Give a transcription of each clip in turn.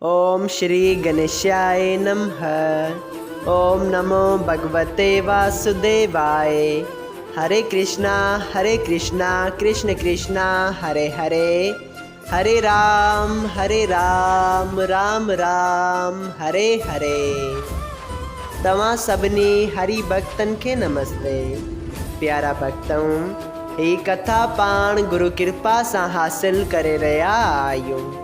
اوم شري گنيشاي نمه اوم نمو ڀڳوتي واسوديواي هري ڪرشنا هري ڪرشنا ڪرشن ڪرشنا هري هري هري رام هري رام رام رام هري هري توهان سڀني هري ڀڳتن کي نمستي پيارا ڀڳتؤن هي ڪٿا پاڻ گرو ڪرپا سان حاصل ڪري رهيا آهيون.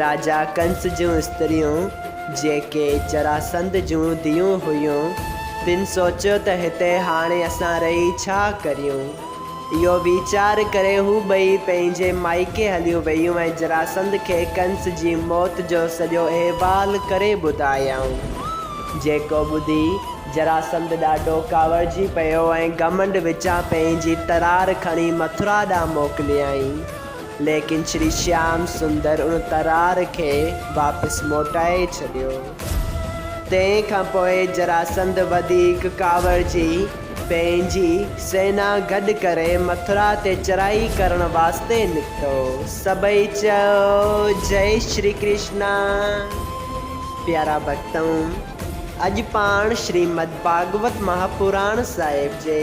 راجا ڪنس جون استريون، جيڪي جراسنڌ جون ڌيئون هيون، تن سوچيو ته هتي هاڻي اسان رهي ڇا ڪريون؟ اهو ويچار ڪري هو ٻئي پنهنجي مائيڪي هليون ويون ۽ جراسنڌ کي ڪنس جي موت جو سڄو احوال ڪري ٻڌايائون. جيڪو ٻڌي جراسنڌ ڏاڍو ڪاوڙجي پيو ۽ گهمنڊ وچان پنهنجي ترار کڻي مٿرا ڏانهن موڪليائين. ليڪن شري شيام سندر ان ترار کي واپس موٽائي ڇڏيو. تنهن کان پوء جراسنڌ وڌيڪ ڪاوڙجي پنهنجي سينا گڏ ڪري مٿرا تي چڙهائي ڪرڻ واسطي نڪتو. سڀئي چيو جئي شري ڪرشنا. پيارا ڀڳتؤ! اڄ پاڻ شريمد ڀاڳوت مهاپراڻ صاحب جي.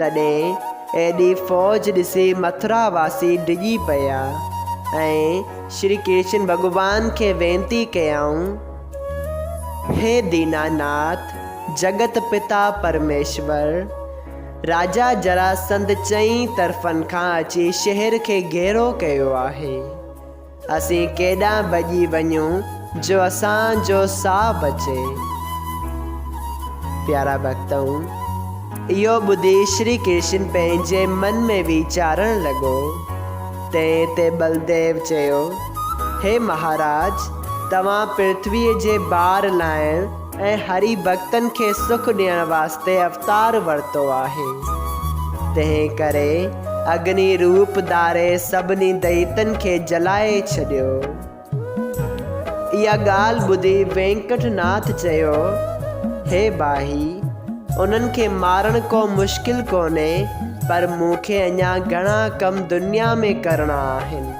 تڏهن ايڏي فوج ڏسي مٿرا واسي ڊڄي پيا ۽ شري ڪرشن ڀڳوان کي وينتي ڪيائون، هي دينا ناٿ، جڳت پتا پرميشور، راجا جراسنڌ چئين طرفن کان اچي شهر کي گهيرو ڪيو آهي. اسين ڪيڏانهن ڀڄي وڃون جو اسان جو ساهه بچي. پيارا ڀڳتؤن! اهو ٻڌي شري ڪرشن پنهنجي من ۾ ويچارڻ لڳو. تنهن تي ٻلديو چيو، هي مهاراج! توهان پرٿويء جي بار لاهڻ، ۽ هري ڀڳتن کي سک ڏيڻ واسطي اوتار ورتو آهي. تنهن ڪري اگني روپ ڌاري سڀني دئيتن کي جلائي ڇڏيو. اها ڳالهه ٻڌي وينڪٽ ناٿ چيو، هي ڀائي! انهن کي مارڻ ڪو مشڪل ڪونهي، پر مون کي اڃا گهڻا ڪم دنيا ۾ ڪرڻا آهن.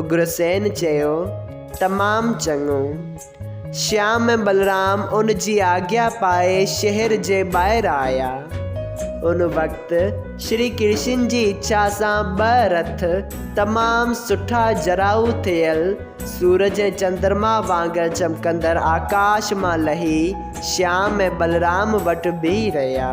اگرسين چيو، تمام چڱو. شيام ۽ بلرام ان جي آگيا پائي شهر جي ٻاهر آيا. ان وقت شري ڪرشن جي اڇا سان ٻه رٿ تمام سٺا جراهو ٿيل سورج ۽ چندرما وانگر چمڪندڙ آڪاش مان لهي شيام ۽ بلرام وٽ بيهي رهيا.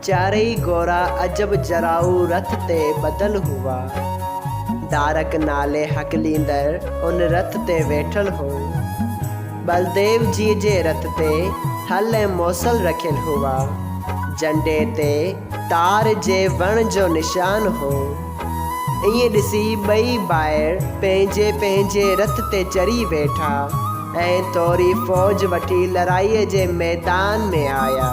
چارئي گورا عجب جراؤ رٿ تي ٻڌل هئا. دارڪ نالي هڪليندڙ ان رٿ تي ويٺل هو. ٻلديو جيء جي رٿ تي هل ۽ موصل رکيل هئا. جنڊي تي تار جي وڻ جو نشان هو. ائين ڏسي ٻئي ڀائر پنهنجي پنهنجي رٿ تي چڙهي ويٺا ۽ ٿوري فوج وٺي لڙائيء جي ميدان ۾ آيا.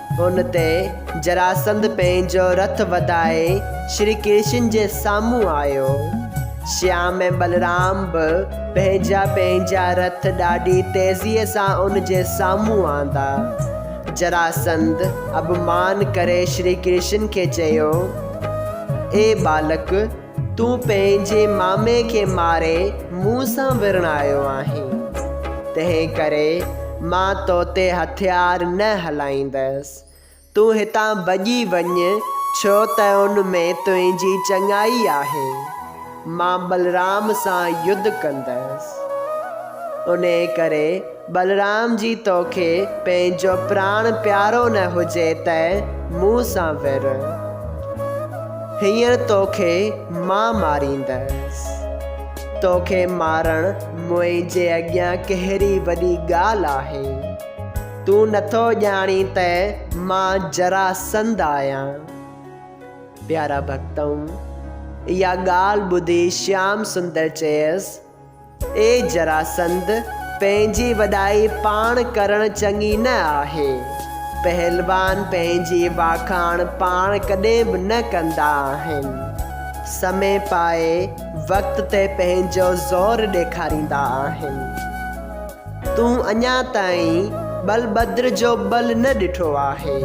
ان تي جراسنڌ پنهنجو رٿ وڌائي شري ڪرشن جي سامهون آيو. شيام ۽ بلرام به پنهنجا پنهنجا رٿ ڏاڍي تيزيء سان ان جي سامهون آندا. جراسنڌ اڀ مان ڪري شري ڪرشن کي چيو، اي ٻالڪ! تون پنهنجي مامي کي ماري مون سان ورڻايو آهين، تنهن ڪري مان تو تي هٿيار نه هلائيندس. تون هتان ڀڄي وڃ، ڇو ته ان ۾ تنهنجي چڱائي آهي. مان بلرام سان يڌ ڪندس. انهيء ڪري بلرام جي توکي پنهنجو پراڻ پيارو نه هجي ته مون سان وير. هينئر توکي مان ماريندس. توکي مارڻ منهنجي اڳيان ڪهڙي وڏي ڳالهه آهي. تون نٿو ڄاڻين ته مان جراسنڌ آهيان. پيارا ڀڳتؤ! اها ڳالهه ٻڌي شيام سندر چيس. اي جراسند! پنهنجي وڏائي پاڻ ڪرڻ چڱي نه آهي. پهلوان پنهنجي واکاڻ پاڻ ڪڏهن به نه ڪندا آهن. سمي پائي وقت تي پنهنجو زور ڏيکاريندا آهن. تون اڃا تائين ٻلڀدر جو ٻل نه ڏٺو آهي.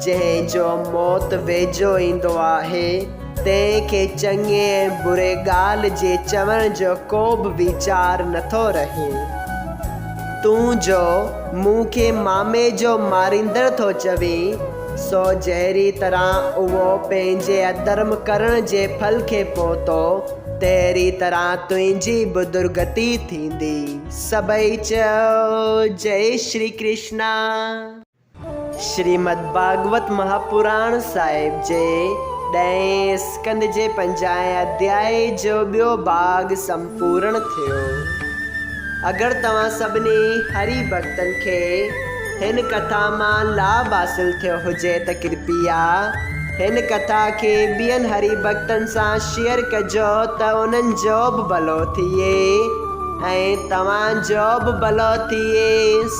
جنهن جو موت ويجهو ايندو آهي، تنهن کي چڱي ۽ بري ڳالهه جي چوڻ جو ڪو به ويچار نه ٿو رهي. تون جو مون کي مامي جو ماريندڙ ٿو چوين، سو جهڙي طرح اهو پنهنجي اڌرم ڪرڻ جي ڦل کي پهتو، تهڙي طرح تنهنجي به درگتي ٿيندي. سڀئي چيو، جئي شري ڪرشنا! شريمد ڀاڳوت مهاپراڻ صاحب جي ڏهين اسڪنڌ جي پنجاهين اڌيائي جو ٻيو ڀاڳ سمپورڻ ٿيو. اگر توهان سڀني هري ڀڳتن کي هن ڪٿا مان لاڀ حاصل ٿيو هجي ته ڪرپيا هن ڪٿا کي ٻين هري ڀڳتن سان شيئر ڪجو ته انهن جو به ڀلو ٿئي ۽ توهان جو به ڀلو ٿئي.